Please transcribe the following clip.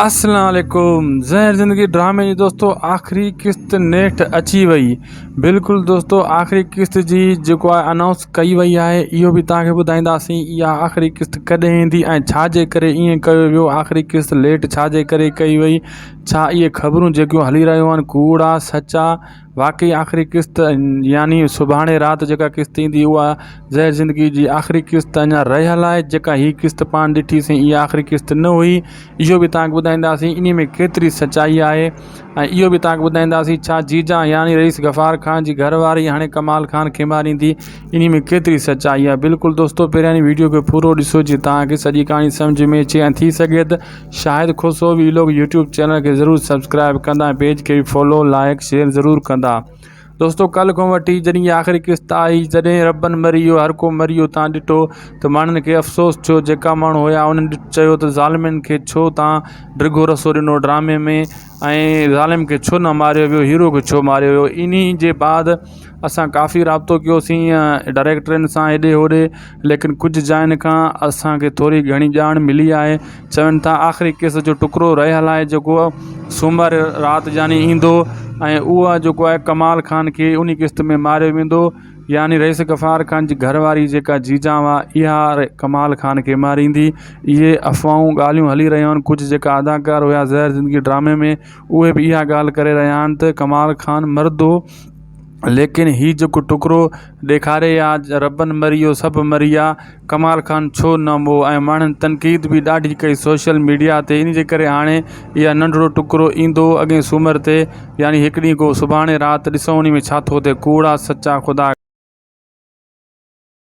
اسلام عليڪم زهر زندگي ڊرامي جي دوستو آخري قسط نيٺ اچي وئي بلڪل دوستو آخري قسط جي جيڪو آهي انائونس ڪئي وئي آهي اهو به تهان کي ٻڌائينداسين اها آخري قسط ڪڏهن ايندي ۽ ڇا جي ڪري ايئن ڪيو ويو آخري قسط ليٽ ڇا جي ڪري ڪئي وئي ڇا اهي خبرون جيڪيون هلي رهيون آهن ڪوڙ آ سچ آ واقعي آخري قسط يعني سڀاڻي رات جيڪا قسط ايندي اها زهر زندگي جي آخري قسط اڃا رهيل آهي جيڪا هي قسط پاڻ ڏٺي سين اها آخري قسط نه هئي اهو به تانکي ٻڌائينداسين انهي ۾ ڪيتري سچائي آهي ۽ اهو به تانکي ٻڌائينداسين ڇا جيجا يعني رئيس غفار خان جي گهر واري هاڻي ڪمال خان کي ماريندي انهي ۾ ڪيتري سچائي آهي بلڪل دوستو پهريان ويڊيو کي پورو ڏسو جي تانکي سڄي ڪهاڻي سمجهه ۾ اچي ۽ ٿي سگهي ته Shahid Khoso vlog YouTube channel کي ضرور سبسڪرائب ڪندا ۽ پيج کي به فالو لائڪ شيئر ضرور ڪندا دوستو ڪل کان وٺي جڏهن هي آخري قسط آئي جڏهن ربن مري ويو هر ڪو مري ويو تان ڏٺو ته ماڻهن کي افسوس ٿيو جيڪا ماڻهو هيا انهن چيو ته ظالمين کي ڇو تان ڊگهو رسو ڏنو ڊرامي ۾ ۽ ظالم کي ڇو نه ماريو ويو هيرو کي ڇو ماريو ويو ان ئي جي بعد اسان ڪافي رابطو ڪيوسين ڊائريڪٽرن سان هيڏي هوڏي ليڪن ڪجهه جاين کان اسانکي ٿوري گهڻي ڄاڻ ملي آهي چون ٿا آخري ڪيس جو ٽڪرو رهيل آهي جيڪو سومر رات جاني ايندو ۽ اهو جيڪو آهي ڪمال خان کي ان قسط ۾ ماريو ويندو يعني رئيس غفار خان جي گهر واري جيڪا جيجان هئا اها ڪمال خان کي ماريندي. اهي افواهون ڳالهيون هلي رهيون آهن ڪجهه جيڪا اداڪار هيا زهر زندگي ڊرامي ۾ اهي به اها ڳالهه ڪري رهيا آهن ته ڪمال خان مردو ليڪن هي جيڪو ٽڪرو ڏيکاري آ ربن مري ويو سڀ مري ويا ڪمال خان ڇو نه مئو ۽ ماڻهن تنقيد به ڏاڍي ڪئي سوشل ميڊيا تي ان جي ڪري هاڻي اها ننڍڙو ٽڪرو ايندو هو اڳئين سومر تي يعني هڪ ڏينهن گو سڀاڻي رات ڏسون انهي ۾ ڇا ٿو ٿئي ڪوڙا سچا خدا